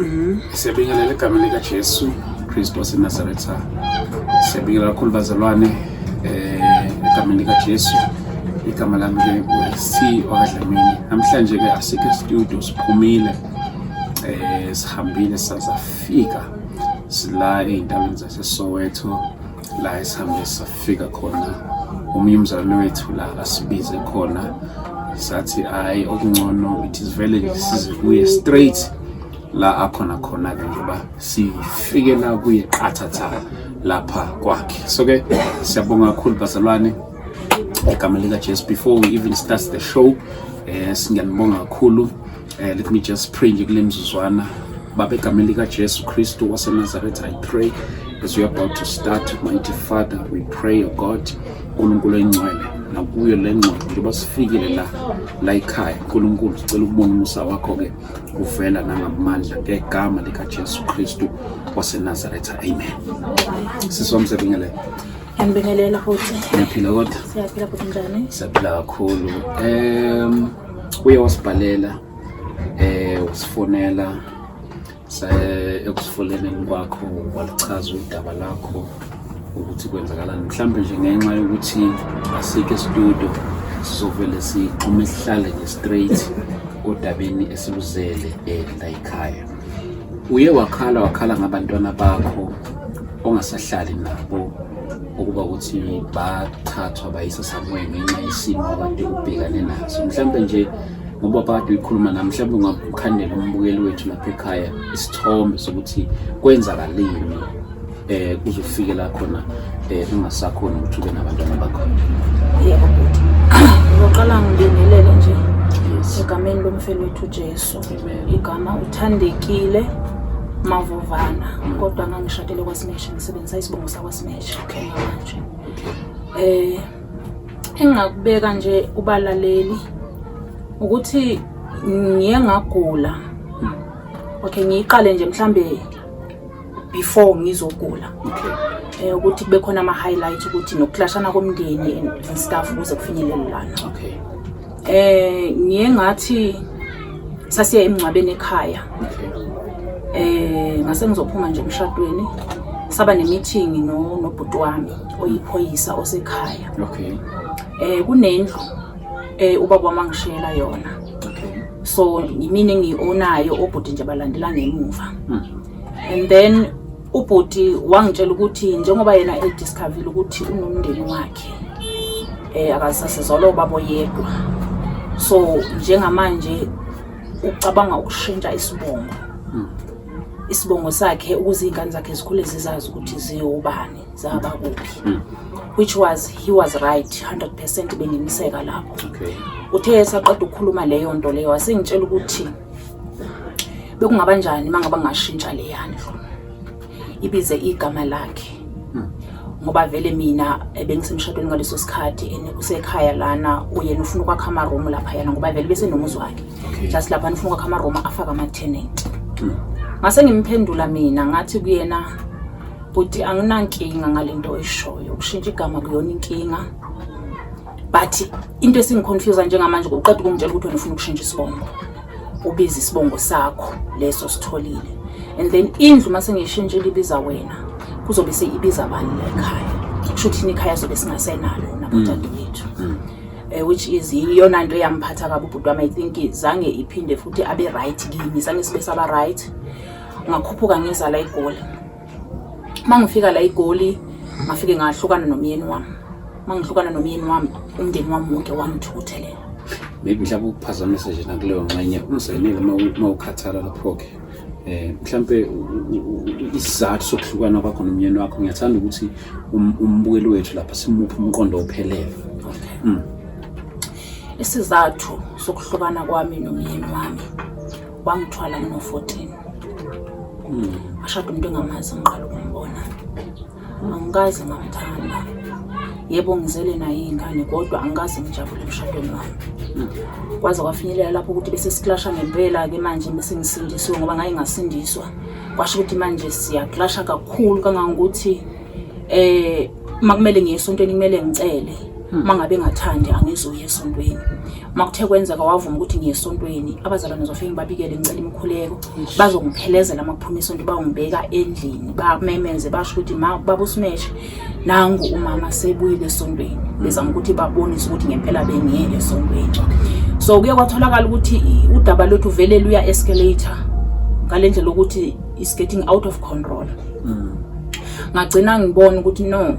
Mhm. Siyabingelela egameni likaJesu Kristu waseNazaretha. Siyabingelela kakhulu bazalwane eh egameni likaJesu. Igama lami ke uC wakadlamini. Namhlanje ke asikho studio siphumile. Eh sihambile sazafika sila ezindaweni zaseSoweto la esihambe safika khona omunye umzali wethu la asibize khona sathi hayi okungcono it is vele nje size kuye straight la akhona khona-ke njengoba sifike la kuye qathatha lapha kwakhe so-ke siyabonga kakhulu bazalwane egameni likajesu before we even start the show um eh, singiyanibonga kakhulu Uh, let me just pray nje kule mzuzwana Baba egameni likaJesu Kristu waseNazaretha I pray as we are about to start mighty Father we pray O oh God uNkulunkulu oyingcwele nakuyo le ngcwele njengoba sifikile la la ekhaya uNkulunkulu sicela ukubona umusa wakho ke uvela nangamandla ngegama likaJesu Kristu waseNazaretha amen sisomsebingele Ngiyambingelela futhi. Ngiyaphila kodwa. Siyaphila futhi njani? Siyaphila kakhulu. Em uye wasibhalela eh usifonela ekusifoleneni kwakho walichaza udaba lakho ukuthi kwenzakalani mhlawumbe nje ngenxa yokuthi asikho estudio sizovele sixhume sihlale nje straight odabeni esiluzele eh, la yikhaya uye wakhala wakhala ngabantwana bakho ongasahlali nabo ukuba ukuthi bathathwa bayisa somewhere ngenxa yesimo abade ubhekane naso mhlawumbe nje ngoba kade uyikhuluma nami mhlawumbe ungakhandela umbukeli wethu lapha ekhaya isithombe sokuthi kwenzakalini eh uzofike la khona eh ungasakhona ukuthi ube nabantwana bakho yebo bhuti ngizoqala ngibingelele nje egameni lomfelo wethu Jesu igama uthandekile mavovana mm. kodwa ngangishadele kwasimeshe ngisebenzisa isibongo sakwasimeshe okay manje eh engingakubeka nje ubalaleli ukuthi ngiye ngagula mm. okay ngiyiqale nje mhlambe before ngizogula eh ukuthi kube khona ama highlight ukuthi nokuhlashana komndeni and stuff ukuze kufinyelele lana okay eh ngiye ngathi sasiya emngcwabeni ekhaya eh ngase ngizophuma nje emshadweni saba nemeeting no nobhuti wami oyiphoyisa osekhaya okay eh kunendlu eh ubaba wami angishela yona so yimina engiyi-onayo obhuti nje balandela ngemuva hmm. and then ubhuti wangitshela ukuthi njengoba yena ediscovile ukuthi unomndeni wakhe um akasasizolo babo yedwa so njengamanje ucabanga ukushintsha isibongo hmm. isibongo sakhe ukuze iy'ngane zakhe zikhule zizazi ukuthi ziwubani zaba kuphi mm. which was he was right 100% bengimiseka lapho okay. uthe esaqeda ukukhuluma leyo nto leyo wasengitshela ukuthi bekungaba njani uma ngaba ngashintsha le yandlu ibize igama lakhe hmm. ngoba vele mina eh, bengisemshadweni ngaleso sikhathi and usekhaya lana uyena ufuna ukwakha amaroom lapha yana ngoba vele bese nomuzi wakhe just lapha ufuna ukwakha amaroom afake ama-tenant hmm. ngase ngimphendula mina ngathi kuyena bhuti anginankinga ngale nto oyishoyo ukushintsha igama kuyona inkinga but into esingiconfusa njengamanje kuqeda ukungitshela ukuthi wena ufuna ukushintsha isibongo ubiza isibongo sakho leso sitholile and then indlu uma sengiyishintshile ibiza wena kuzobe seyibiza abani la ekhaya kusho ukuthi ikhaya sobe singasenalo nabodade bethu mm. mm. eh, which is iyona nto eyamphatha kabi ubhuti wami i think zange iphinde futhi abe right kimi sange sibe saba right ngakhuphuka ngiza la igoli uma ngifika la igoli ngafike ngahlukana nomyeni wami uma ngihlukana nomyeni wami umndeni wami wonke wangithuthelela maybe mhlawumbe ukuphazamisa nje nakuleyo nxenye umzekelo uma ukhathala lapho-ke eh mhlambe isizathu sokuhlukana kwakho nomnyeni wakho ngiyathanda ukuthi um, umbukeli wethu lapha simuphe umqondo ophelele mm. isizathu sokuhlukana kwami nomyeni wami wangithwala ngino-14 ashada umuntu engamazi ngiqala ukumbona angikaze ngamthanda yebo ngizele naye iy'ngane kodwa angikaze ngijabule emshadweni wami kwaze kwafinyelela lapho ukuthi bese siklasha ngempela-ke manje bese ngisindisiwe ngoba ngaye ngasindiswa kwasho ukuthi manje siyaklasha kakhulu kangangokuthi eh makumele ngiye esontweni kumele ngicele hmm. mangabe engathandi angizoya esontweni makuthe kwenzeka wavuma ukuthi ngiye esontweni abazalwane zofike ngibabikele ngicela imikhuleko bazongiphelezela makuphuma isonto bawungibeka endlini bamemeze basho ukuthi ma baba usimeshe nangu umama sebuyile esontweni hmm. bezama ukuthi babonise ukuthi ngempela bengiye esontweni so kuye kwatholakala ukuthi udaba lwethu vele luya escalator ngalendlela ukuthi is getting out of control mm. ngagcina ngibona ukuthi no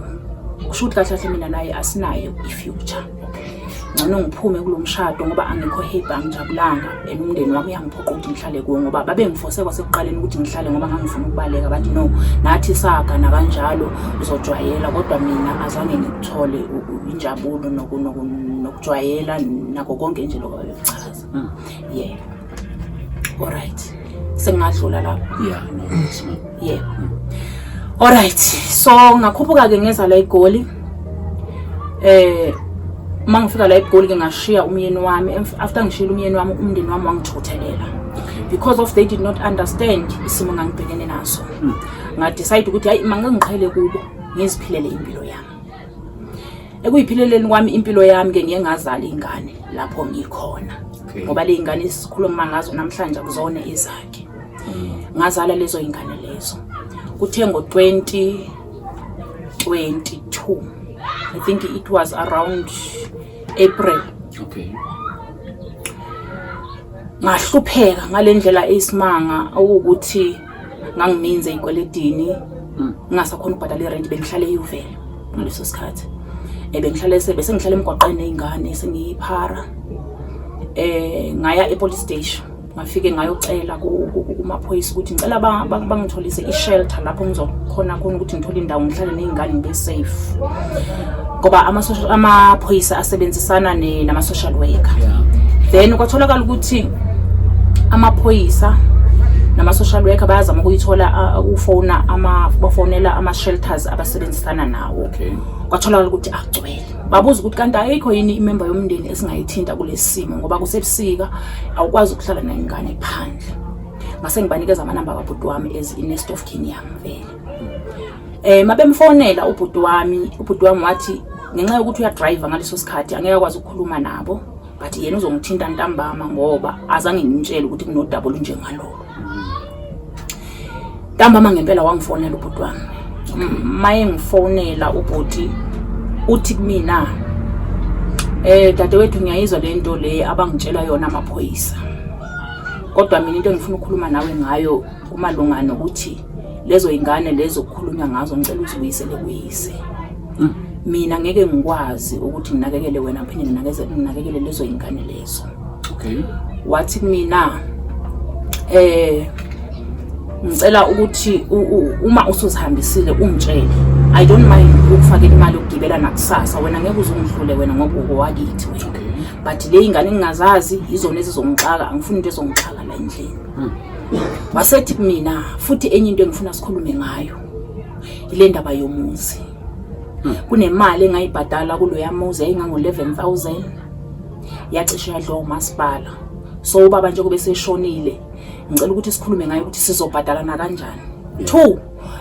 kusho ukuthi kahle kahle mina naye asinayo i-future ngcono ngiphume kulo mshado ngoba angikho happy angijabulanga and umndeni wami uyangiphoqa ukuthi ngihlale kuwo ngoba babengifose kwasekuqaleni ukuthi ngihlale ngoba ngangifuna ukubaleka bathi no nathi saga nakanjalo uzojwayela kodwa mina azange ngikuthole injabulo nokujwayela nako konke nje lokho babekuchaza hmm. yeah Alright. Sengadlula lapho. Yeah, no, yes, ma'am. Yeah. Mm. Alright. So ngakhuphuka ke ngeza la eGoli. Eh uma ngifika la eGoli ke ngashiya umyeni wami after ngishila umyeni wami umndeni wami wangithuthelela because of they did not understand isimo ngangibhekene naso. Mm. Nga decide ukuthi hayi mangingiqhele kubo ngiziphilele impilo yami. ekuyiphileleni kwami impilo yami ke ngiye ngazala ingane lapho ngikhona ngoba le ingane esikhuluma ngazo namhlanje kuzona izakhe mm. ngazala lezo ingane lezo kuthe ngo 2022 i think it was around april okay ngahlupheka ngalendlela eyisimanga ukuthi ngangininzi ey'kweledini hmm. ngingasakhona ukubhadala irenti bengihlale eyuvela ngaleso sikhathi um bengihlale sebe sengihlale emgwaqeni ney'ngane sengiyiphara um ngaya epolice station ngafike ngayocela kumaphoyisa ukuthi ngicela bangitholise i-shelter lapho ngizokhona khona ukuthi ngithole indawo ngihlale ney'ngane ngibe safe ngoba amaphoyisa asebenzisana nama-social worker then kwatholakala ukuthi amaphoyisa nama-social worker bayazama ukuyithola uh, ufona bafonela ama-shelters abasebenzisana nawo okay. kwatholakala ukuthi agcwele babuza ukuthi kanti ayikho yini imemba yomndeni esingayithinta kulesi simo ngoba kusebusika awukwazi ukuhlala nayingane phandle ngase ngibanikeza amanamba kabhuti wami as i-nest of king yami vele Eh mabemfonela ubhuti wami, ubhuti wami wathi ngenxa yokuthi uyadrive ngaleso sikhathi angeke akwazi ukukhuluma nabo but yena uzongithinta ntambama ngoba azange ngimtshele ukuthi kunodaba olunjengalolo. Ntambama ngempela wangifonela ubhuti wami. Maye ngifonela ubhuti uthi kumina eh dadewethu ngiyayizwa le nto le abangitshela yona amaphoyisa kodwa mina into engifuna ukukhuluma nawe ngayo kumalunga nokuthi lezo ingane lezo kukhulunywa ngazo ngicela ukuthi uyisele kuyise mm. mina ngeke ngikwazi ukuthi nginakekele wena phinde nginakekele lezo ingane lezo okay wathi mina eh ngicela ukuthi uma usuzihambisile ungitshele i don't mind ukufakela imali yokugibela nakusasa wena ngeke uzungihlule wena ngoba ukowakithi wena but le ingane engingazazi yizona ezizongixaka angifuni into ezongixaka la endlini hmm. wasethi kumina futhi enye into engifuna sikhulume ngayo ile ndaba yomuzi hmm. kunemali engayibhadala kuloya muzi yayingango-11000 yacishe yadliwa umasipala so ubaba nje kube seshonile ngicela ukuthi sikhulume ngayo ukuthi sizobhadalana kanjani two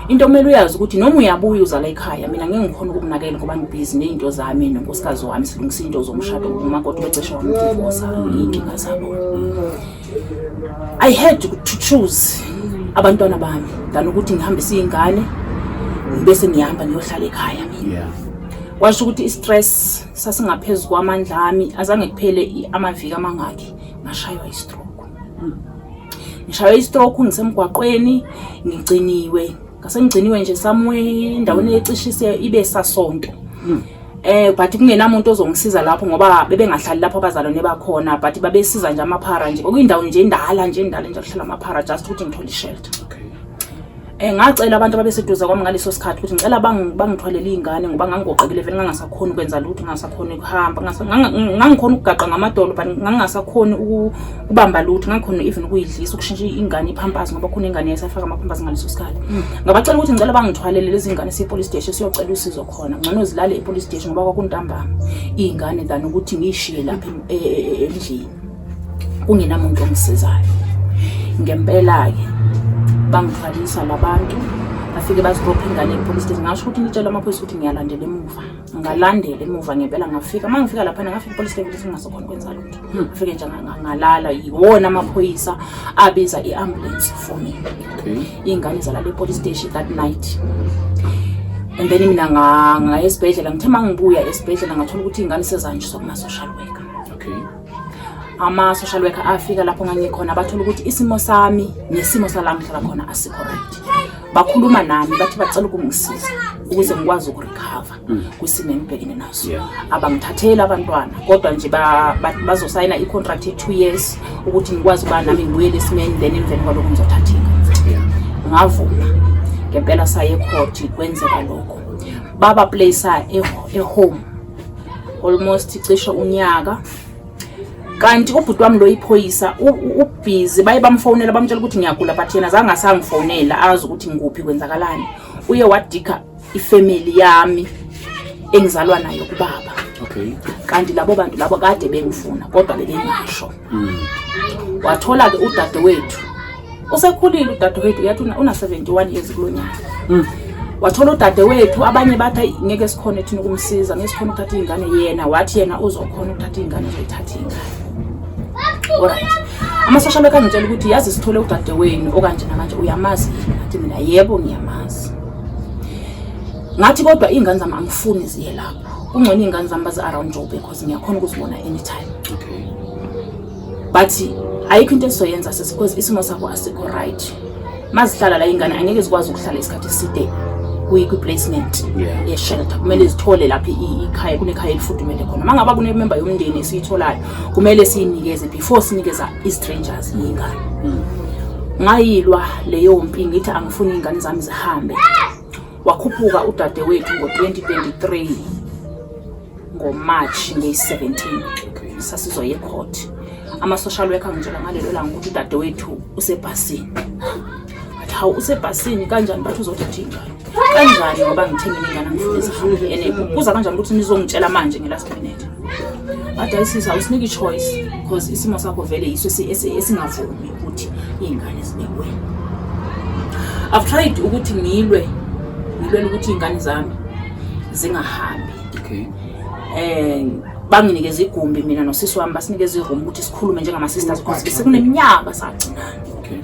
into omele uyazi ukuthi noma uyabuya uzala ekhaya mina ngeke ngikhona ukumnakela ngoba ngibhizi ney'nto zami nonkosikazi wami silungisa iy'nto zomshado ngomakoti becesha wamdivosa iy'nkinga zabo I had to choose abantwana bami than ukuthi ngihambise iy'ngane bese ngihamba ngiyohlala ekhaya mina yeah. washo ukuthi i-stress sasingaphezu kwamandla ami azange kuphele amaviki amangaki ngashaywa i-stroke ngishaywa i-stroke ngisemgwaqweni ngigciniwe ngasengciniwe nje somewhere endaweni ecishise ibe sasonto hmm. eh but kungenamuntu ozongisiza lapho ngoba bebengahlali lapho abazalwane bakhona but babesiza nje amaphara nje okuyindawo nje indala nje indala nje kuhlala amaphara just ukuthi ngithole ishelter okay eh ngacela abantu ababeseduze kwami ngaleso sikhathi ukuthi ngicela bangithwalele izingane ngoba ngangigoqekile vele ngangasakhona ukwenza lutho ngangasakhona ukuhamba ngangikhona ukugaqa ngamadolo but ngangasakhona kubamba lutho ngangikhona even ukuyidlisa ukushintsha ingane iphampasi ngoba khona ingane yayisafaka amaphampasi ngaleso sikhathi mm. ngabacela ukuthi ngicela bangithwalele lezi ngane siye-police station siyocela usizo khona ngcono zilale e-police station ngoba kwakuntambama iy'ngane than ukuthi ngiyishiye lapha e, e, e, endlini kungenamuntu ongisizayo ngempela-ke bangithwalisa labantu bafike bazibopha ingane epolice station ngasho ukuthi ngitshela amaphoyisa ukuthi ngiyalandela emuva ngalandela emuva ngempela ngafika uma ngifika laphana ngafika ipolice station ngingasokhona ukwenza lutho ngifike nje ngalala yiwona amaphoyisa abiza i-ambulance for me iy'ngane zalala e-police station that night and then mina ngaya esibhedlela ngithe uma ngibuya esibhedlela ngathola ukuthi iy'ngane sezanjiswa kuma-social worker ama-social worker afika lapho ngangikhona bathola ukuthi isimo sami nesimo sala ngihlala khona asikho right bakhuluma nami bathi bacela ukungisiza ukuze ngikwazi ukurekhava mm. kwisimo engibhekene naso abangithatheli abantwana kodwa nje bazosayina i-contract ye-two years ukuthi ngikwazi ukuba nami ngibuyele esimeni then emveni kwalokho ngizothatheka ngavuma ngempela saye ekhoti kwenzeka lokho baba playisa ehome almost cishe unyaka kanti ubhuti wami lo iphoyisa ubhizi baye bamfonela bamtshela ukuthi ngiyagula but yena zange asangifonela azi ukuthi ngikuphi kwenzakalani uye wadika ifamily yami engizalwa nayo kubaba okay kanti labo bantu labo kade bengifuna kodwa bebengasho mm. wathola ke udadewethu usekhulile udadewethu yathi una 71 years kulonyaka mm. wathola udadewethu abanye bathi ngeke sikhone thina ukumsiza ngeke sikhone ukuthatha ingane yena wathi yena uzokhona ukuthatha ingane uzoyithatha ingane alright amasosha bekangitshela ukuthi yazi sithole udadewenu okanje namanje uyamazi athi mina yebo ngiyamazi ngathi kodwa iy'ngane zami angifuni ziye lapho kungcono iy'ngane zami bazi-around jobe because ngiyakhona ukuzibona anytime okay. but ayikho into esizoyenza sisi because isimo sakho asikho right mazihlala la ingane angeke zikwazi ukuhlala isikhathi eside kwi-placement yeah. ye-shelter kumele zithole lapho ikhaya kunekhaya elifudumele khona uma ngaba kunememba yomndeni esiyitholayo kumele siyinikeze before sinikeza i-strangers iy'ngane mm. ngayilwa leyo mpi ngithi funa iy'ngane zami zihambe wakhuphuka udadewethu ngo-2023 ngomarch ngeyi-17 sasizoya ecourt ama-social worker ngitshela ngalelo langa ukuthi udadewethu usebhasini but hawu usebhasini kanjani bathi uzothatha iy'ngane kanjani ngoba ngithenge ningane angifuna izihambe ene kuza kanjani ukuthi nizongitshela manje nge-last minute adayisisa usinike i-choice because isimo sakho vele yiso esingavumi ukuthi iy'ngane zibekwe i've tried ukuthi ngilwe ngilwela ukuthi iy'ngane zami zingahambi okay um banginikeza igumbi mina nosisi wami basinikeza iroom ukuthi sikhulume njengama-sisters because besikuneminyaka sagcinana okay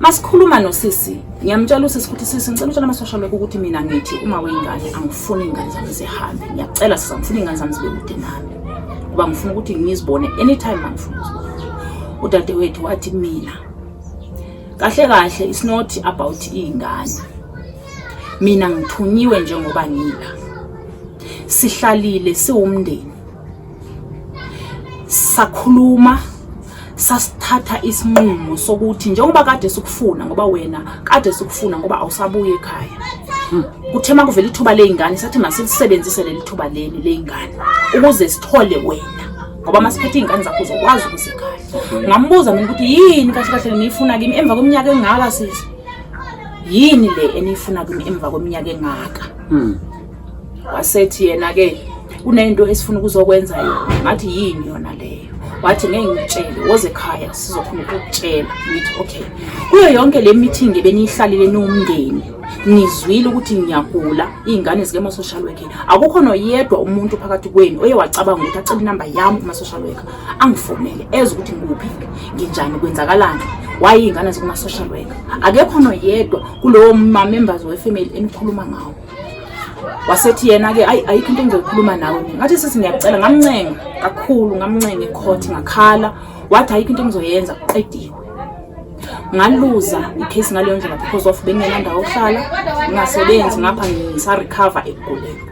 masikhuluma nosisi ngiyamtshela usisi ukuthi sisi ngicela utshela amasosha lokho ukuthi mina ngithi uma weyingane angifuni iy'ngane zami zihambe ngiyacela sisa ngifuna iy'ngane zami zibe kude nami ngoba ngifuna ukuthi ngizibone anytime mangifuna uzibona udadewethu wathi mina kahle kahle it's not about iy'ngane mina ngithunyiwe njengoba ngila sihlalile siwumndeni sakhuluma sasithatha isinqumo sokuthi njengoba kade sikufuna ngoba wena kade sikufuna ngoba awusabuye ekhaya hmm. kuthe uma kuvela ithuba ley'ngane sathi masilisebenzise leli thuba leli ley'ngane ukuze sithole wena ngoba masiphethe iy'ngane zakho uzokwazi ukuzikhaya ngambuza mina ukuthi yini kahle kahle niyifuna kimi emva kweminyaka engaka sisi yini le eniyifuna kimi emva kweminyaka engaka hmm. wasethi yena ke kunento esifuna ukuzokwenza yona ngathi yini yona leyo wathi ngeke ngikutshele woze ekhaya sizokhona ukukutshela ngithi okay kuyo yonke le meeting ebeniyihlalile niwumndeni nizwile ukuthi ngiyagula iy'ngane zike ama-social worker akukho noyedwa umuntu phakathi kwenu oye wacabanga ukuthi acele inamba yami kuma-social worker angifonele eze ukuthi ngikuphi nginjani kwenzakalani waye iy'ngane zikuma-social worker akekho noyedwa kulowo mamembers wefamily enikhuluma ngawo wasethi yena-ke ayi ayikho into engizoyikhuluma nawe mina ngathi sisi ngiyacela ngamncenga kakhulu ngamncenga ekhothi ngakhala wathi ayikho into engizoyenza kuqediwe ngaluza ikhesi ngaleyo ndlela because of bengenandawo ohlala ngingasebenzi ngapha ngisarecover ekuguleni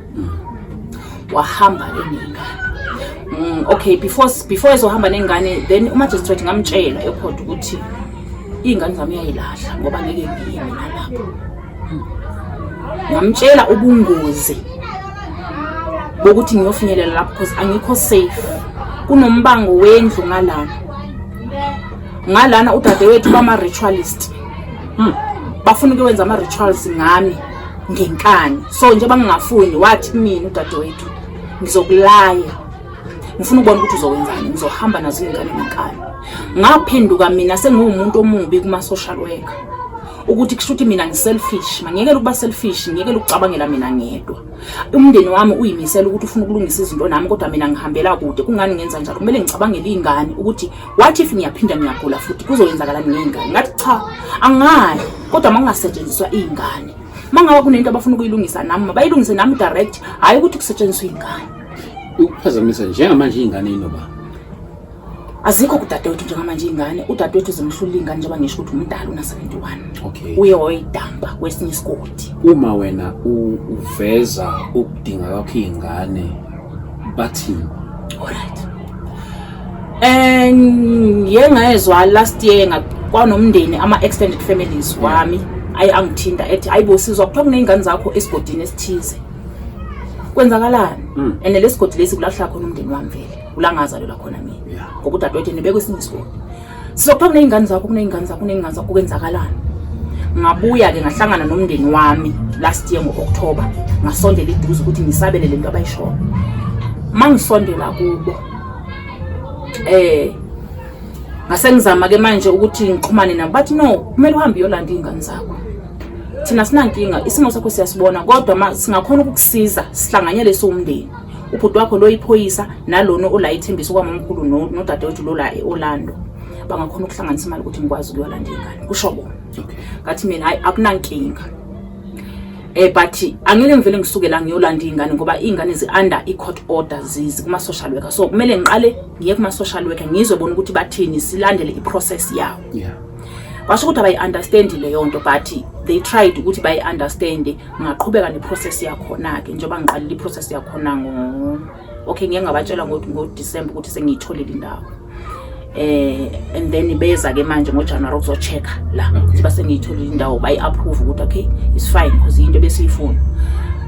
wahamba enengane mm, okay before before ezohamba nengane then umagistrate ngamtshela ekhodi ukuthi iy'ngane zami uyayilahla ngoba ngeke ngiye mina lapho ngamtshela ubungozi bokuthi ngiyofinyelela lapho because angikho safe kunombango wendlu ngalana ngalana udadewethu bama-ritualist hmm. bafuna ukuwenza ama-rituals ngami ngenkani so nje bangingafuni wathi mina udadewethu ngizokulaya ngifuna ukubona ukuthi uzokwenzani ngizohamba nazo iy'ngane ngenkani ngaphenduka mina sengiwumuntu omubi kuma-social worker ukuthi kusho ukuthi mina ngiselfish mangiyekele ukuba selfish ngiyekele ukucabangela mina ngedwa umndeni wami uyimisela ukuthi ufuna ukulungisa izinto nami kodwa mina ngihambela kude kungani ngenza njalo kumele ngicabangele iy'ngane ukuthi what if ngiyaphinda ngiyagula futhi kuzoyenzakalani ngey'ngane ngathi cha angayi kodwa uma kungasetshenziswa iy'ngane uma ngaba kunento abafuna ukuyilungisa nami mabayilungise nami direct hhayi ukuthi kusetshenziswa iy'ngane ukuphazamisa njengamanje iy'ngane inoba azikho kudadewethu njengamanje ingane udadewethu uzimhlula ingane njengoba ngisho ukuthi umdala una-71 okay. uye wayidamba kwesinye isigodi uma wena uveza ukudinga kwakho iy'ngane bathini olright um ye ngayezwa last year kwanomndeni ama-extended families wami ayi angithinta ethi ayi bo sizwa kuthiwa kuney'ngane zakho esigodini esithize kwenzakalani hmm. and lesigodi lesi kulahla khona umndeni wami vele ulangazalelwa khona mina ngoba udadewethu nibekwe esinye isikole sizophanga kuney'ngane zakho kuney'ngane zakho kuney'ngane zakho kwenzakalani ngabuya-ke ngahlangana nomndeni wami last year ngo-okthoba ngasondela iduze ukuthi ngisabele le nto abayishoyo uma ngisondela kubo eh ngasengizama-ke manje ukuthi ngixhumane nabo bathi no kumele uhambe uyolanda iy'ngane zakho thina sinankinga isimo sakho siyasibona kodwa singakhona ukukusiza sihlanganyele siwumndeni ubhuti wakho lo iphoyisa nalona ola ithembisa kwamamkhulu nodadewethu no lola e-orlando bangakhona ukuhlanganisa imali ukuthi ngikwazi ukuyolanda ingane kusho bona ngathi mina hayi akunankinga eh but angeke ngivele ngisuke la ngiyolanda ingane ngoba ingane zi under i court order zizi kuma social worker so kumele ngiqale ngiye kuma social worker ngizwe bona ukuthi bathini silandele i process yawo yeah washo ukuthi abayi understand leyo nto but they tried ukuthi bayi understand ngaqhubeka neprocess yakhona-ke njengoba ngiqalile iprocess yakhona ngo okay ngiye ngabatshela ngodisemba ukuthi sengiyitholile indawo eh and then beza ke manje ngojanuwari ukuzochecka la ukuthi base ngiyitholile indawo bayi-approve ukuthi okay it's fine because yinto besiyifuna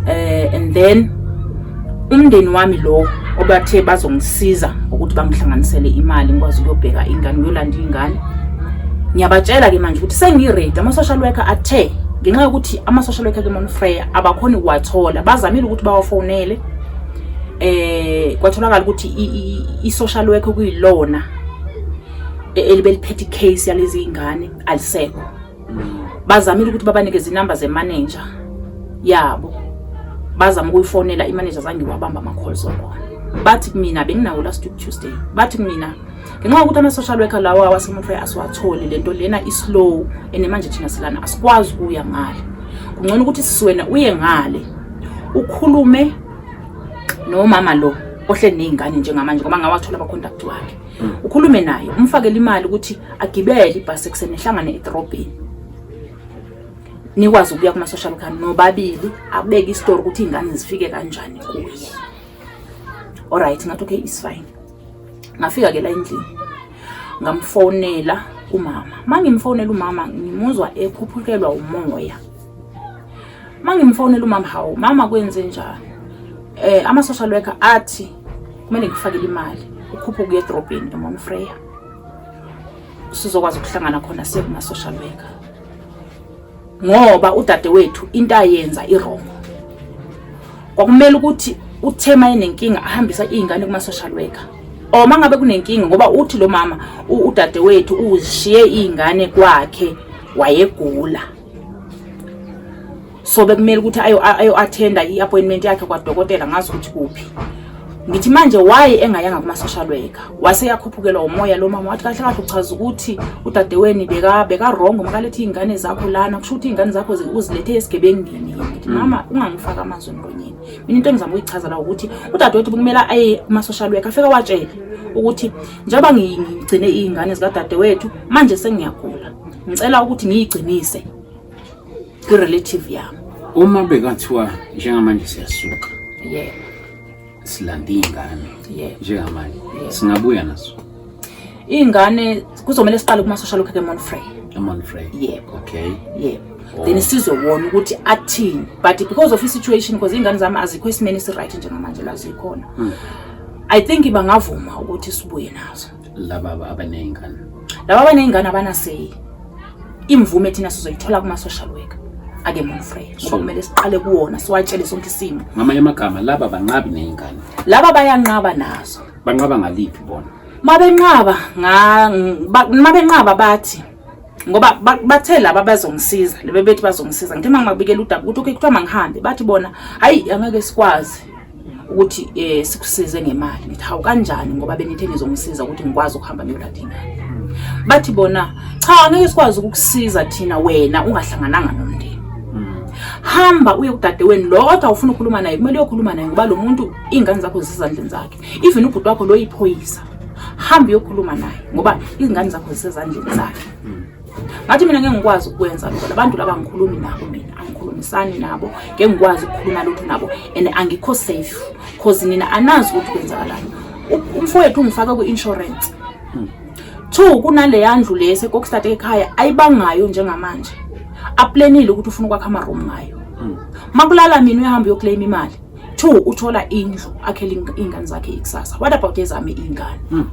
eh and then umndeni wami lowo obathe bazongisiza ukuthi bangihlanganisele imali ngikwazi ukuyobheka ingane uyolanda ingane ngiyabatshela-ke manje ukuthi sengiredi ama-social worker athe ngenxa yokuthi ama-social worker ke monfreya abakhoni ukuwathola bazamile ukuthi bawafonele eh kwatholakala ukuthi i-social worker kuyilona e-, elibeliphethe i-case yalezi ingane alisekho bazamile ukuthi babanikeze inamba zemanager yabo bazama ukuyifonela imanager zange wabamba ama-calls wakhona bathi kumina benginawo last week tuesday bathi kumina ngenxa yokuthi ama-social worker lawo awasemotray asiwatholi le nto lena islow and manje thina silana asikwazi ukuya ngale kungcono ukuthi sisiwena uye ngale ukhulume nomama lo ohleli ney'ngane njengamanje ngoba ngawathola abakhontakthi wakhe ukhulume naye umfakele imali ukuthi agibele ibhasi ekuseni ehlangane edorobheni nikwazi ukuya kuma-social worker nobabili abeke isitori ukuthi iy'ngane zifike kanjani kuye olright ngathi okay is fine ngafika ke la endlini ngamfonela umama ma ngimfonela umama ngimuzwa ekhuphukelwa umoya ma ngimfonela umama hawu mama kwenze njani um eh, ama-social worker athi kumele ngikufakele imali ukhuphe ukuya edrobheni emon freya sizokwazi ukuhlangana khona sekuma-social worker ngoba udade wethu into ayenza irongo kwakumele ukuthi uthema enenkinga ahambisa iy'ngane kuma-social worker or uma ngabe kunenkinga ngoba uthi lo mama udade wethu uzishiye iy'ngane kwakhe wayegula so bekumele ukuthi ayo-athenda ayo i-appointment yakhe kwadokotela ngazi ukuthi kuphi ngithi manje why engayanga kuma-social worker wase yakhuphukelwa umoya lo mama wathi kahle kahle uchaza ukuthi udadeweni bekarongo makalethi iy'ngane zakho lana kusho ukuthi iy'ngane zakho uzilethe esigebengini ngithi mm. mama ungangifaki amazwi emlonyeni mina into engizama ukuyichaza la ukuthi udadewethu bekumele aye kuma-social worker afike watshele ukuthi njengoba ngigcine iy'ngane zikadadewethu manje sengiyagula ngicela ukuthi ngiyigcinise irelative yami uma bekathiwa njengamanje siyasuka yeah silanda iy'ngane yeah njengamanje yeah. singabuya nazo iy'ngane kuzomele siqale kumasosha lokhu kemonfrey emonfrey yebo okay yebo oh. then sizobona ukuthi athini but because of i-situation because iy'ngane zami azikho esimeni esi-right njengamanje la zikhona hmm. i think bangavuma ukuthi sibuye nazo laba abaney'ngane laba abaney'ngane abanaseyi imvume thina sizoyithola kuma-social worker ake monfrey ngoba kumele siqale kuwona siwatshele sonke isimo ngamanye amagama laba banqabi ney'ngane laba bayanqaba nazo banqaba ngaliphi bona mabenqaba mabenqaba bathi ngoba bathe laba bazongisiza lebe bethi bazongisiza ngithe uma ngibabikela udaba ukuthi okay kuthiwa mangihambe bathi bona hayi angeke sikwazi ukuthi um sikusize ngemali ngithi hawu kanjani ngoba benithe nizongisiza ukuthi ngikwazi ukuhamba ngiyolanda ingane bathi bona cha angeke sikwazi ukukusiza thina wena ungahlangananga nomndeni hamba uye kudadeweni lo kodwa ufuna ukukhuluma naye kumele uyokhuluma naye ngoba lo muntu iy'ngane zakho zisezandleni zakhe even ubhuti wakho loyiphoyisa hambe uyokhuluma naye ngoba izingane zakho zisezandleni zakhe hmm. ngathi mina ngeke ngikwazi ukwenza lokho labantu laba ngikhulumi nabo mina angikhulumisani nabo ngeke ngikwazi ukukhuluma lutho nabo and angikho safe cause nina anazi ukuthi kwenzakalani umfowethu ungifake kwi-insurance hmm. two kunaleya ndlu le sekokstart ekhaya ayibangayo njengamanje aplenile ukuthi ufuna ukwakha amaroom ngayo hmm. makulala mina uyahamba uyokleyima imali two uthola indlu akhele iy'ngane zakhe ikusasa what about ezami iy'ngane hmm.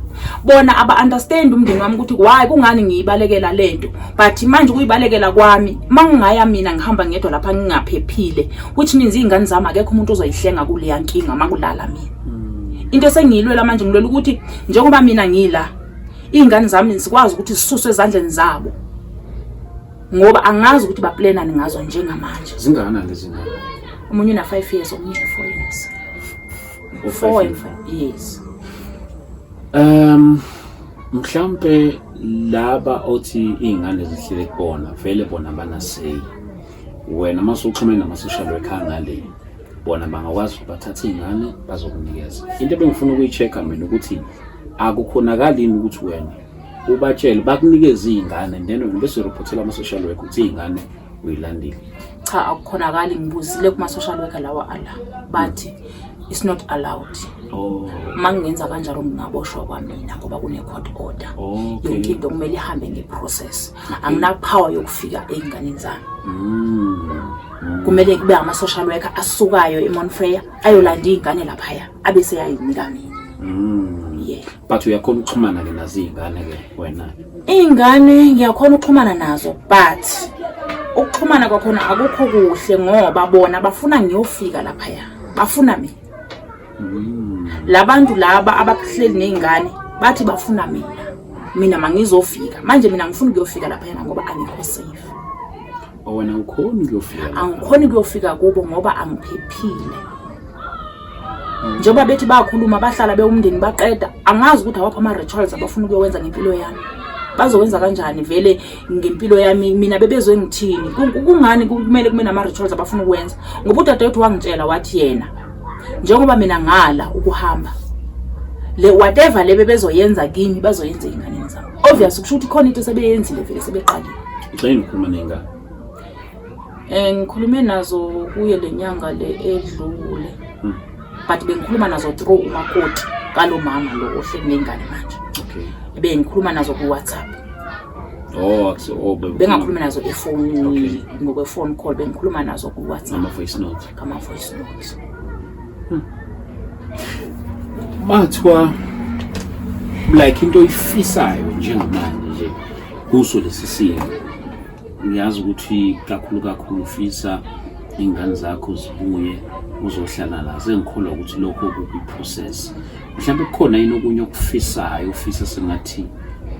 bona aba-understand umndeni wami ukuthi why kungani ngiyibalekela le nto but manje ukuyibalekela kwami uma ngingaya mina ngihamba ngedwa lapha ngingaphephile which means iy'ngane zami akekho umuntu ozoyihlenga kuleya nkinga uma kulala mina hmm. into esengiyilwela manje ngilwela ukuthi njengoba mina ngila iy'ngane zami zikwazi ukuthi zisuswe ezandleni zabo ngoba angazi ukuthi baplanani ngazo njengamanje zingakanani lezi ngane omunye una 5 years omunye una 4 years u-four and five years um mhlampe laba othi iy'ngane zihlele kubona vele bona banaseyi wena uma usuxhumene nama-social worker angale bona bangakwazi ukuthi bathathe iy'ngane bazokunikeza into ebengifuna ukuyi-check-a mina ukuthi akukhonakali yini ukuthi wena ubatshele bakunikeza iy'ngane then wena bese ureportela ama-social work ukuthi iy'ngane uyilandile cha akukhonakali ngibuzile kuma-social worker lawa ala bathi it's not allowed oh. uma ngingenza kanjalo ngingaboshwa kwamina ngoba kune-court order oh, yonke into kumele ihambe nge-process anginapower yokufika ey'nganeni zami mm. kumele kube ama-social worker asukayo emonfreya ayolanda iy'ngane laphaya abe seyayinika mina mm. but uyakhona ukuxhumana ke nazo iy'ngane ke wena iy'ngane ngiyakhona ukuxhumana nazo but ukuxhumana kwakhona akukho kuhle ngoba bona bafuna ngiyofika laphaya bafuna mina mm. labantu laba abahleli ney'ngane bathi bafuna mina mina mangizofika manje mina ngifuna ukuyofika laphayana ngoba angikho safe oh, wena ukhona ukuyofika angikhoni ukuyofika kubo ngoba angiphephile njengoba bethi bayakhuluma bahlala bewumndeni baqeda angazi ukuthi awaphi ama-rituals abafuna ukuyowenza ngempilo yami bazowenza kanjani vele ngempilo yami mina bebezwe ngithini kungani kumele kube nama-rituals abafuna ukuwenza ngoba udadewethu wangitshela wathi yena njengoba mina ngala ukuhamba le whatever le bebezoyenza kimi bazoyenza ey'nganeni zami obvious kusho ukuthi khona into sebeyenzile vele sebeqalile Eh, ngikhulume nazo kuye le nyanga le edlule hmm. but bengikhuluma nazo through umakoti kalo mama lo ohleli nengane manje okay bengikhuluma nazo ku WhatsApp oh akuse oh bengakhuluma nazo efonini ngokwe phone call bengikhuluma nazo ku WhatsApp ama voice note kama voice note hmm. mathiwa like into oyifisayo njengamanje nje kuso lesi simo ngiyazi ukuthi kakhulu kakhulu ufisa iy'ngane zakho zibuye uzohlala la sengikholwa ukuthi lokho kukuprocess mhlawumbe kukhona yini okunye okufisayo ufisa sengathi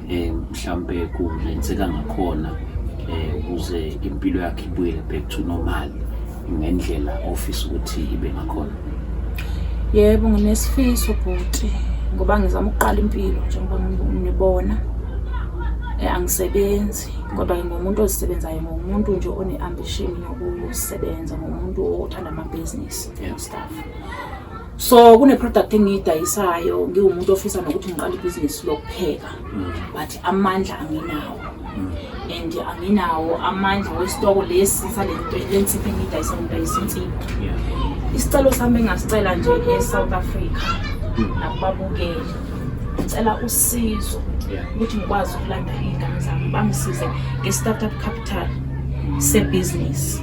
um mhlawumbe kungenzeka ngakhona um ukuze impilo yakhe ibuyele back to normal ngendlela ofisa ukuthi ibe ngakhona yebo nginesifiso bhuti ngoba ngizama ukuqala impilo njengoba nibona eh, angisebenzi kodwa ngingumuntu ozisebenzayo ngumuntu nje one-ambition yokusebenza ngumuntu othanda amabhizinisi and stuff so kune-product engiyidayisayo ngiwumuntu ofisa nokuthi ngiqale ibhizinisi lokupheka mm. but amandla anginawo mm. and anginawo amandla wesitoko lesi salensipho engiyidayisa ngidayisa insipho isicelo sami engasicela nje e-south africa mm. nakubabukeli ngicela usizo ukuthi ngikwazi ukulanda iy'ngane zami bangisize nge-startup capital sebhizinisi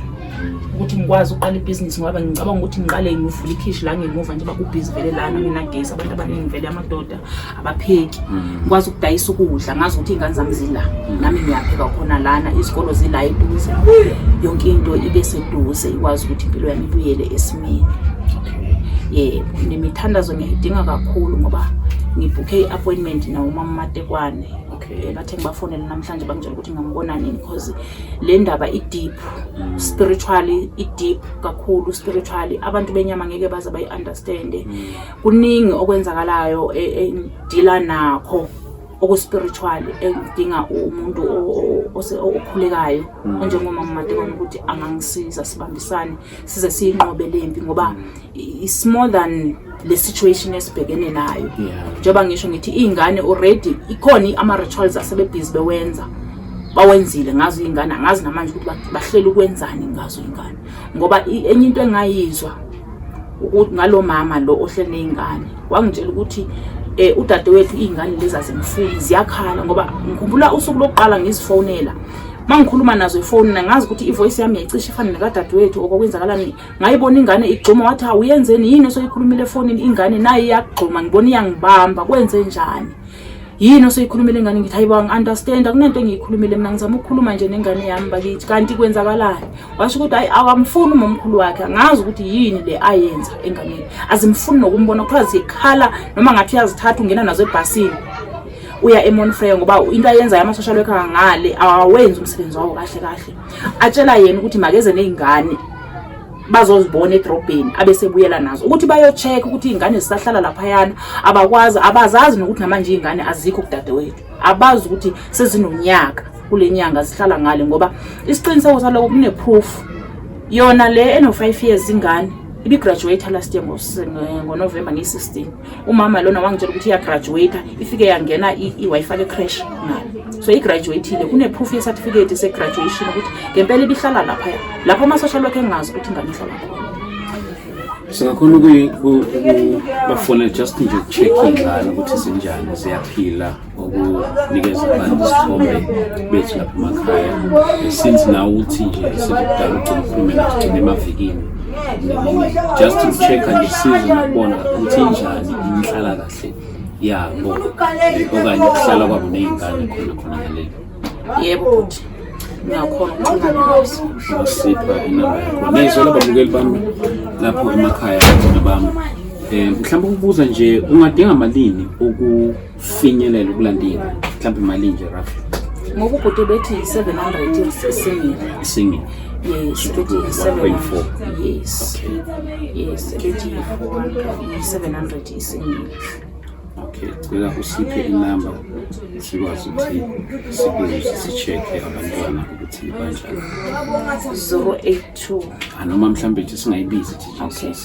ukuthi ngikwazi ukuqala ibhizinisi ngoba ngicabanga ukuthi ngiqale ngivule ikhishi la ngemuva njengoba kubhizi vele lana nginagesi abantu abaningi vele amadoda abapheki mm. ngikwazi ukudayisa ukudla ngazi ukuthi iy'ngane zami zila mm. nami ngiyapheka khona lana izikolo zila eduze yonke into ibe seduze ikwazi ukuthi impilo yami ibuyele esimeni yebo nemithandazo ngiyayidinga kakhulu ngoba ngibhukhe i-appointment nawumama matekwane okay bathe ngibafonele namhlanje bangitshela ukuthi ngambona nini because le ndaba i-deep mm. spiritually i-deep kakhulu spiritually abantu benyama ngeke baze bayi-understande mm. kuningi okwenzakalayo e, engidila nakho okuspiritual engidinga umuntu okhulekayo mm. onjengomama matekwane ukuthi angangisiza sibambisane size siyinqobe lempi ngoba it's more than le situation esibhekene nayo njengoba ngisho ngithi iy'ngane already ikhona ama-rituals asebebhizi bewenza bawenzile ngazo iy'ngane angazi namanje ukuthi bahlela ukwenzani ngazo iy'ngane ngoba enye into engayizwa ukuthi ngalo mama lo ohlele ney'ngane wangitshela ukuthi um udadewethu iy'ngane lezi azimfuni ziyakhala ngoba ngikhumbula usuku lokuqala ngizifonela mangikhuluma nazo ifoni nangazi ukuthi ivoice yami yayicishe ifane nekadadewethu okwakwenzakalani ngayibona ingane igxuma wathi hawu uyenzeni yini osoyikhulumile efonini ingane naye iyagxuma ngibona iyangibamba kwenze njani yini osoyikhulumile ingane ngithi hayibo angi-understand akunento engiyikhulumile mina ngizama ukukhuluma nje nengane yami bakithi kanti kwenzakalani washo ukuthi hayi awamfuni umomkhulu wakhe angazi ukuthi yini le ayenza enganeni azimfuni nokumbona kuthiwa zikhala noma ngathi uyazithatha ungena nazo ebhasini uya emonfrey ngoba into ayenzayo ama-social worker kangale awawenzi umsebenzi wawo kahle kahle atshela yena ukuthi makeze ney'ngane bazozibona edrobheni abesebuyela nazo ukuthi bayocheck ukuthi iy'ngane zisahlala laphayana abakwazi abazazi nokuthi namanje iy'ngane azikho kudadewethu abazi ukuthi sezinonyaka kule nyanga zihlala ngale ngoba isiqiniseko saloko kune-proof yona le eno-five years ingane ibigraduate last year ngonovemba ngiyi-16 umama lona wangitshela ukuthi iyagraduate ifike yangena i-wi-fi lecrash nayo so igraduatile kune-proof yecertificate segraduation ukuthi ngempela ibihlala laphaya lapho ama-social work engazi ukuthi ingane ihlala khona singakhona ukubafona just nje ukucheck ingane ukuthi zinjani ziyaphila ukunikeza abantu isithombe bethu lapha emakhaya since nawe uthi nje sekudala ugcina ukhulume nagcina emavikini just to check-a nje size nokubona ukuthi injani inhlala kahle yabo okanye ukuhlala kwabo ney'ngane khona khona ngaleli yebo bhuti ngiyakhona ukuxhumana nazo usipha inamba yakho nezwe lababukeli bami lapho emakhaya bona bami um mhlawumbe ukubuza nje ungadinga malini finyelela ukulandini mhlawumbe imali nje roughly ngoba ubhuti bethi 700 isingile isingile yes bethi 1.4 yes okay. yes bethi 700 isingile okay cela usiphe inamba sikwazi ukuthi sibuze si-check-e abantwana ukuthi banjani 082 anoma mhlawumbe ithi singayibizi ithi jcc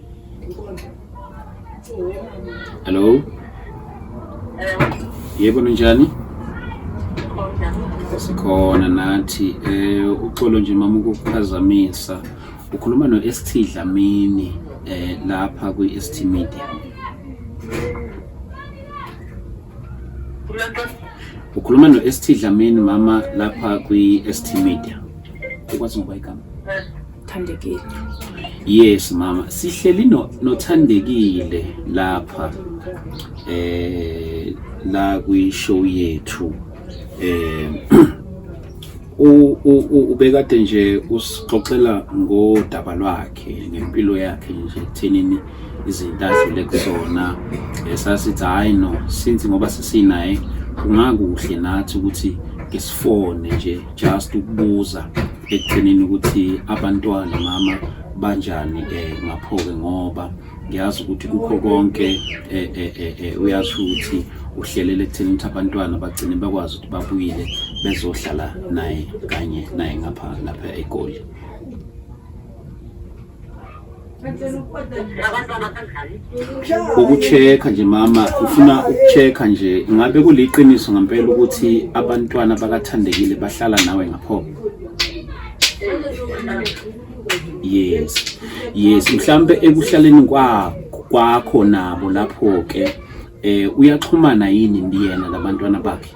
Hello. Yebo ninjani? Sikhona nathi eh uxolo nje mama ukukuphazamisa. Ukhuluma no ST Dlamini eh lapha kwi ST Media. Ukhuluma no ST Dlamini mama lapha kwi ST Media. Ukwazi ngoba igama. Thandekile. Yes mama, sihleli no nothandekile lapha eh la kwi show yethu eh ubekade nje usixoxela ngodaba lwakhe ngempilo yakhe nje kuthenini izinto adlule kusona esasithi eh, hayi no since ngoba sesinaye kungakuhle nathi ukuthi ngisifone nje just ukubuza ekugcineni ukuthi abantwana mama banjani eh ngaphoke ngoba ngiyazi ukuthi kukho konke eh, eh, eh, eh uyazi ukuthi uhlelele ekutheni ukuthi abantwana bagcine bakwazi ukuthi babuyile bezohlala naye kanye naye ngapha lapha egoli ukucheck nje mama ufuna ukucheck nje ngabe kuliqiniso ngempela ukuthi abantwana bakathandekile bahlala nawe ngapho yes yes mhlambe ekuhlaleni kwakho nabo lapho ke eh uyaxhumana yini ndiyena labantwana bakhe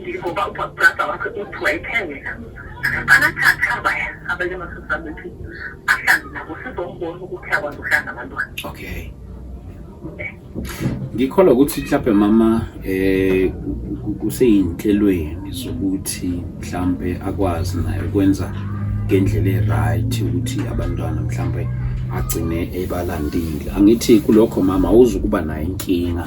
Ngivuka ubabbrada wakhe uthi wayephengela anathathaba abanye amasisi abethi ahlanze nabo sizombona ukuthi akwazi ukuhlanga abantwana okay ngikholwa ukuthi mhlawumbe mama eh kuseyinhlelweni zokuthi mhlambe akwazi naye ukwenza ngendlela eright ukuthi abantwana mhlambe agcine ebalandile angithi kulokho mama uzukuba nayo inkinga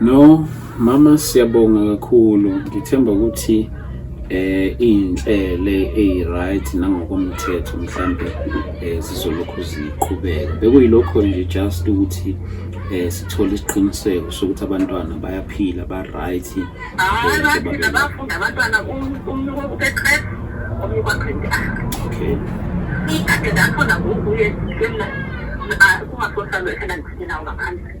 No mama siyabonga kakhulu ngithemba ukuthi eh inhlele ey right nangokomthetho mhlambe eh, zizolokhu ziqhubeka bekuyilokho nje just ukuthi eh sithole isiqiniseko sokuthi abantwana bayaphila ba right eh, abafunda abantwana umnuko ubeqhela omnuko aqhindi okay ikade lapho nakuye kumna kungasohlalo ekhela ngifuna ngaphandle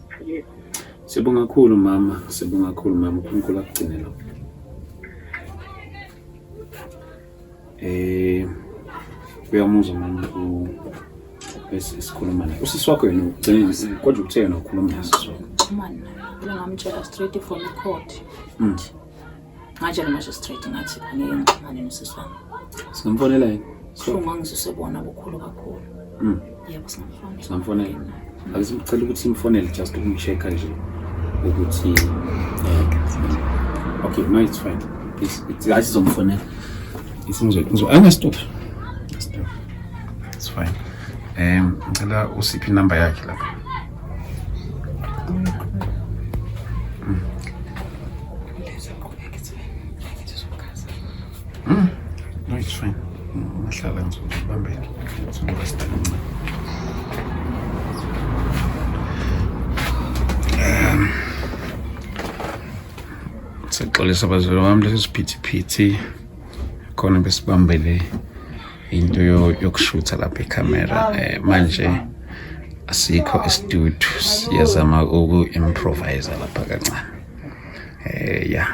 Sibonga kakhulu mama, sibonga kakhulu mama, uNkulunkulu akugcine lo. Eh uyamuzwa mama u esikhuluma naye. Usisi wakho yena ugcine kodwa uthe yena ukhuluma naye. Xhumana naye. Ngamtshela straight from court. Mm. Ngatshela manje straight ngathi angeke ngixhumane nosisi wami. Singamfonela yini? So ngangizise bona bukhulu kakhulu. Mm. Yebo singamfonela. Singamfonela. Akuzimcela ukuthi simfonele just ukumchecker nje ukuthi eh okay no it's fine. It's it's guys somfonela. Isingizwe. Angeke stop. Stop. It's fine. Um, ngicela usiphi inamba yakhe lapha. Sexolisa bazalwane bami lesi siphithiphithi khona besibambele into yokushutha lapha ikhamera um eh, manje asikho isitudio siyazama uku-improvisa lapha kancane um ya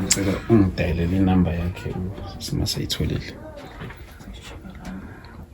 ngicela ungidayelele inamba yakhe simasayitholile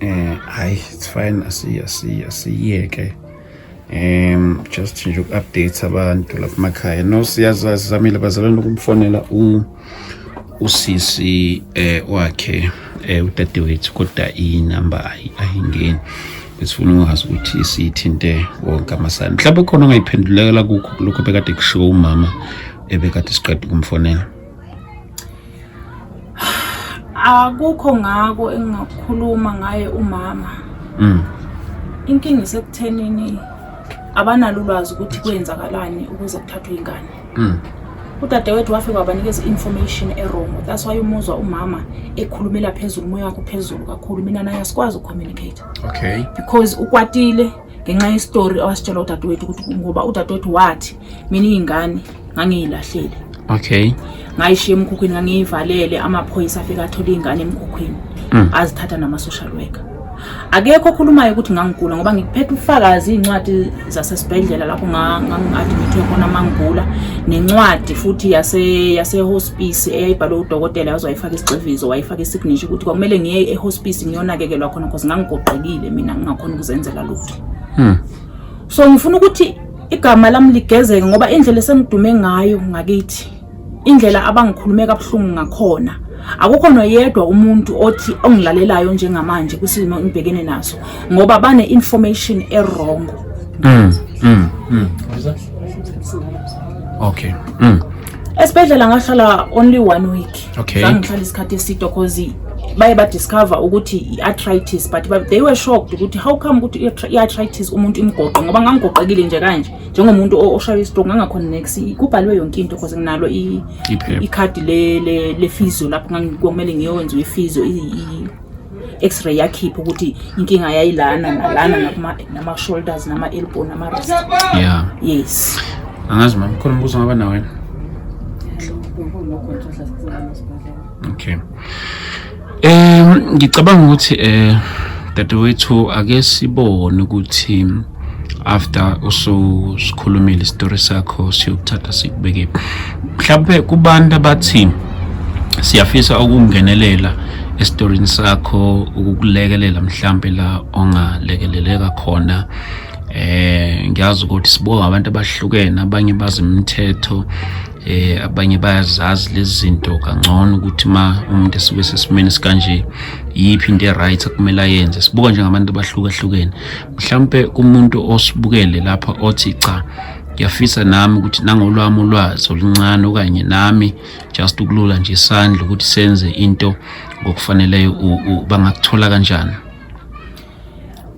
Eh hayi it's fine asiye asiye asiyeke. Um just nje uku-update abantu lapha emakhaya. No siyazazi zamile bazalwane ukumfonela u usisi eh wakhe eh udadewethu kodwa inamba ayingeni. esifuna ungazi ukuthi siyithinte wonke amasana mhlawumbe khona ongayiphendulekela kukho lokho bekade kushiwo umama ebekade siqeda ukumfonela akukho ngako engingakhuluma ngaye umama mm. inkinga isekuthenini abanalo ulwazi ukuthi kwenzakalani ukuze kuthathwe ingane mm. udadewethu wafike wabanikeza i-information erongo that's why umuzwa umama ekhulumela phezulu umoya wakho phezulu kakhulu mina naye asikwazi ukucommunicate okay because ukwatile ngenxa yesitori awasitshela udadewethu ukuthi ngoba udadewethu wathi mina iy'ngane ngangiyilahlele okay ngayishiya emkhukhwini ngangiyivalele amaphoyisa afike athola iy'ngane emkhukhwini mm. azithatha nama-social worker akekho okhulumayo ukuthi ngangigula ngoba ngiphethe ufakazi iy'ncwadi zasesibhedlela lapho ngangi-admithwe khona mangigula nencwadi futhi yasehospisi eyayibhalwe udokotela yaze wayifaka isigxivizo wayifaka isignisho ukuthi kwakumele ngiye ehospisi ngiyonakekelwa khona cause ngangigoqekile mina ngingakhona ukuzenzela lutho hmm. so ngifuna ukuthi igama lami ligezeke ngoba indlela esengidume ngayo ngakithi indlela abangikhulume kabuhlungu ngakhona akukho noyedwa umuntu othi ongilalelayo njengamanje kwisimo engibhekene naso ngoba bane information ewrong mm, mm, mm. okay mm. esibhedlela ngahlala only one week okay ngihlala isikhathi eside cause baye ba discover ukuthi i-arthritis but they were shocked ukuthi how come ukuthi i-arthritis umuntu imgoqe ngoba ngangigoqekile nje kanje njengomuntu oshaywa istroke ngangakhona next kubhaliwe yonke into cause nginalo ikhadi le le physio lapho ngangikomele ngiyowenza i-physio x-ray yakhipha ukuthi inkinga yayilana nalana nama-shoulders nama-elbow nama-rest yeah. yes angazi mama khona umbuzo ngaba nawe okay um ngicabanga ukuthi um dadewethu ake sibone ukuthi um after ususikhulumile isitori sakho siyokuthatha sikubeke mhlawumbe kubantu abathi siyafisa ukungenelela esitorini sakho ukukulekelela mhlawumbe la ongalekeleleka khona eh ngiyazi ukuthi sibonga abantu abahlukene abanye bazi imithetho eh abanye bayazazi lezi zinto kangcono ukuthi ma umuntu esuke sesimeni sikanje yiphi into e-right kumele ayenze sibuka njengabantu abahlukahlukene mhlampe kumuntu osibukele lapha othi cha ngiyafisa nami ukuthi nangolwami ulwazi oluncane okanye nami just ukulula nje isandla ukuthi senze into ngokufaneleyo bangakuthola kanjani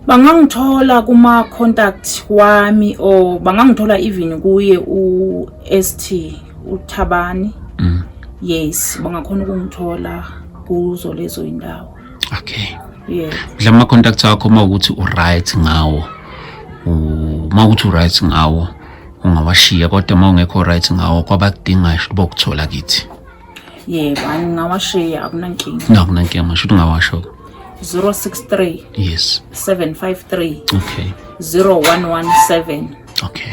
bangangithola kuma contact wami or bangangithola even kuye u ST uthabani mm. yes bangakhona ukungithola kuzo lezo indawo okay yeah la ma contacts akho uma ukuthi u right ngawo uma ukuthi u right ngawo ungawashiya kodwa uma ungekho right ngawo kwabakudingayo bokuthola kithi yebo angingawashiya akunankinga no akunankinga masho ukuthi ungawasho 063 yes 753 okay 0117 okay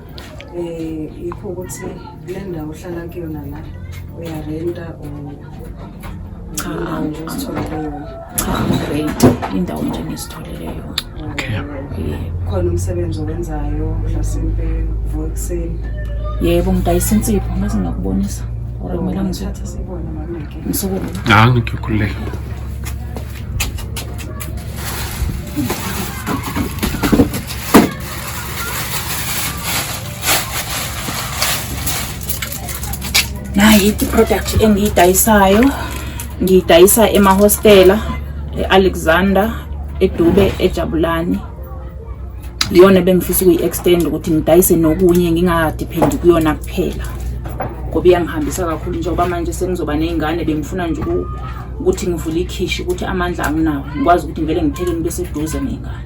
um yikho ukuthi kule ndawo ohlala kuyona la uyarenta cha nje usithole kuyona cha great indawo nje ngisitholele yona okay khona umsebenzi owenzayo mhlasimpe uvuka ekuseni yebo ngidayisa insipho ngaze ngakubonisa or kumele oh, ngithathe sibone mameke ngisukume hayi ngikhululeke nayi i-product engiyidayisayo ngiyidayisa emahostela e-alexander edube ejabulani iyona bengifisa ukuyi-extend ukuthi ngidayise nokunye ngingadiphendi kuyona kuphela ngoba iyangihambisa kakhulu njengoba manje sengizoba ney'ngane bengifuna nje ukuthi ngivule ikhishi ukuthi amandla anginawo ngikwazi ukuthi ngivele ngithekeni beseduze ney'ngane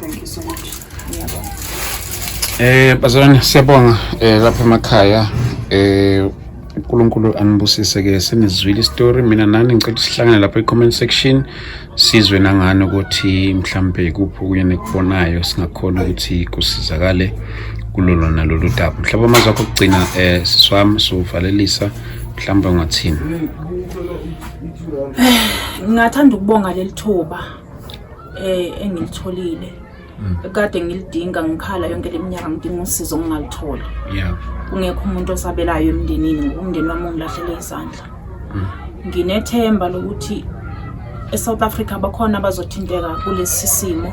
Thank you so much. Ngiyabonga. Eh bazalwane siyabonga eh lapha emakhaya eh uNkulunkulu anibusise ke senizwile istory mina nani ngicela sihlangane lapha e-comment section sizwe nangani ukuthi mhlambe kuphi kunye nekubonayo singakhona ukuthi kusizakale kulolo nalolu daba mhlawumbe amazwi akho okugcina um eh, siswami siwuvalelisa mhlawumbe ungathini ngingathanda ukubonga leli thuba eh engilitholile mm. kade ngilidinga ngikhala yonke leminyaka ngidinga usizo ngingalitholi yeah kungekho umuntu osabelayo emndenini ngumndeni wami ongilahlele izandla mm. nginethemba lokuthi eSouth Africa bakhona abazothinteka kulesi simo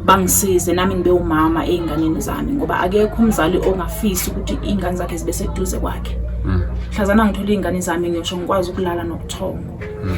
bangisize nami ngibe umama einganeni zami ngoba akekho umzali ongafisi ukuthi ingane zakhe zibe seduze kwakhe mm. hlazana ngithola ingane zami ngisho ngikwazi ukulala nokuthongo mm.